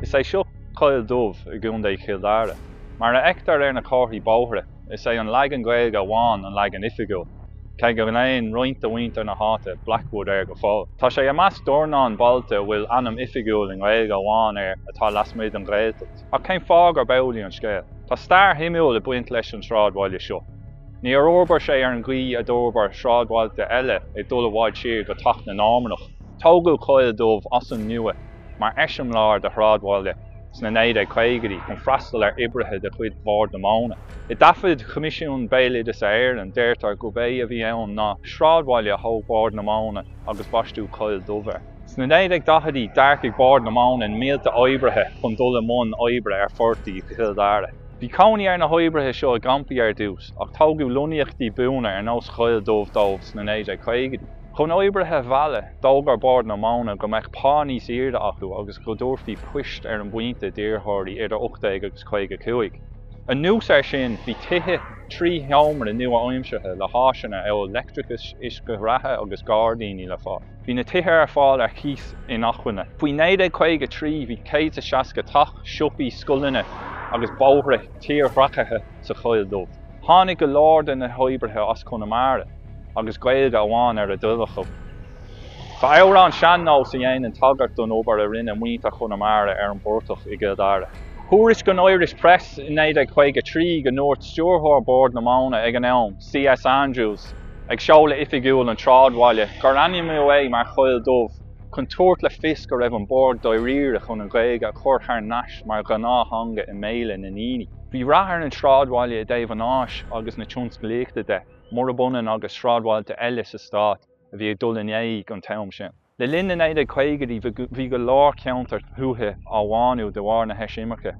Is é seo Coill Dubh i gContae Chill Dara. Mar a fheictear ar na comharthaí bóithre, is é an leagan Gaeilge amháin an leagan oifigiúil, cé go nglaonn roinnt de mhuintir na háite Blackwood air go fóill. Tá sé i measc dornán bailte a bhfuil ainm oifigiúil i nGaeilge amháin air atá lasmuigh den Ghaeltacht. Ach cén fáth gurb amhlaidh an scéal? Tá stair shuimiúil ag baint leis an sráidbhaile seo. Níor fhorbair sé ar an gcaoi a d'fhorbair sráidbhailte eile ag dul i bhfad siar go teacht na Normannach. Tógadh Coill Dubh as an nua mar eiseamláir de shráidbhaile sna 1950idí chun freastal ar oibrithe de chuid Bhord na Móna. I dtaifid Choimisiún Béaloideasa Éireann, deirtear gurb é a bhí ann ná sráidbhaile a thóg Bord na Móna agus baisteadh Coill Dubh air. Sna 1940idí, d'earcaigh Bord na Móna na mílte oibrithe chun dul i mbun oibre ar phortaigh i gCill Dara. Bhí cónaí ar na hoibrithe seo i gcampaí ar dtús, ach tógadh lonnaíochtaí buana ar nós Choill Dubh dóibh sna 1950idí. Chun oibrithe a mhealladh, d'fhógair Bord na Móna go mbeadh pá níos airde acu agus go dtabharfaí poist ar an bpointe d'iarrthóirí idir 18 agus 55. Anuas air sin, bhí tithe trí sheomra nua-aimseartha le háiseanna amhail leictreachas, uisce reatha agus gairdíní le fáil. Bhí na tithe ar fáil ar chíos inacmhainne. Faoi 1953 bhí 160 teach, siopaí, scoileanna agus bóithre tírdhreachaithe sa Choill Dubh. Tháinig go leor de na hoibrithe as Conamara agus Gaeilge amháin ar a dtoil acu. Tá amhrán sean-nóis a dhéanann tagairt don obair a rinne muintir Chonamara ar an bportach i gCill Dara. Thuairiscigh an Irish Press i 1953 go ndúirt stiúrthóir Bhord na Móna ag an am, CS Andrews, ag seoladh oifigiúil an tsráidbhaile, gur ainmníodh é mar Choill Dubh chun tabhairt le fios go raibh an Bord dáiríre chun an Ghaeilge a chur thar n-ais mar ghnáththeanga i mbéala na ndaoine. Bhí rath ar an sráidbhaile i dtaobh an fháis agus na tionsclaíochta de, murab ionann agus sráidbhailte eile sa stát a bhí ag dul in éag an t-am sin. Le linn na 1950idí bhí go leor ceantar tuaithe á mbánú de bharr na heisimirce,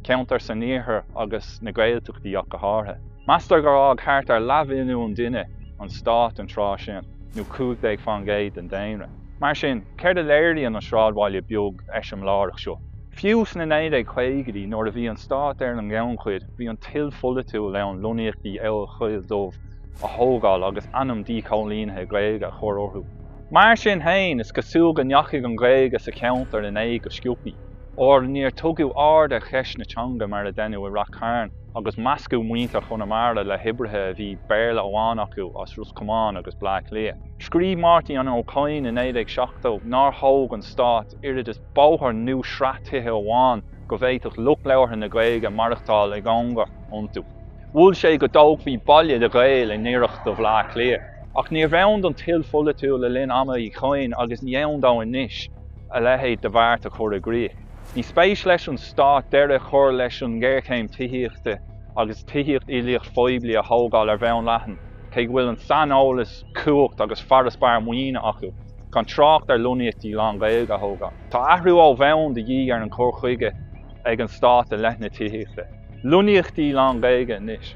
ceantair san iarthar agus sna Gaeltachtaí ach go háirithe. Meastar gur fhág thart ar leathmhilliún duine an stát an tráth sin, nó 15 fán gcéad den daonra. Mar sin, céard a léiríonn an sráidbhaile beag eiseamláireach seo? Fiú sna 1950idí, nuair a bhí an stát ar an ngannchuid, bhí an toil pholaitiúil ann lonnaíochtaí amhail Choill Dubh a thógáil agus ainm díchoilínithe Gaeilge a chur orthu. Mar sin féin, is cosúil go ndeachaigh an Ghaeilge sa cheantar in éag go sciobthaí, óir níor tugadh aird ar cheist na teanga mar a deineadh i Rath Cairn, agus meascadh muintir Chonamara le hoibrithe a bhí Béarla amháin acu as Ros Comáin agus Bleá Cliath. Scríobh Máirtín Ó Cadhain i 1970 nár thóg an Stát oiread is bóthar nó sraith tithe amháin go bhféadfadh lucht labhartha na Gaeilge maireachtáil i gcomhar iontu. Mhol sé go dtógfaí baile do Ghaeil i ngiorracht do Bhleá Cliath. Ach níorbh ann don toil pholaitiúil le linn ama Uí Chadhain agus ní ann dó anois a leithéid de bheart a chur i gcrích. Ní spéis leis an stát deireadh a chur leis an ngéarchéim tithíochta agus tithíocht uilíoch phoiblí a thógáil ar bhonn leathan, cé go bhfuil an saineolas, cumhacht agus farasbarr maoine acu, gan trácht ar lonnaíochtaí lán-Ghaeilge a thógáil. Tá athrú ó bhonn de dhíth ar an gcur chuige ag an Stát i leith na tithíochta. Lonnaíochtaí lán-Ghaeilge anois.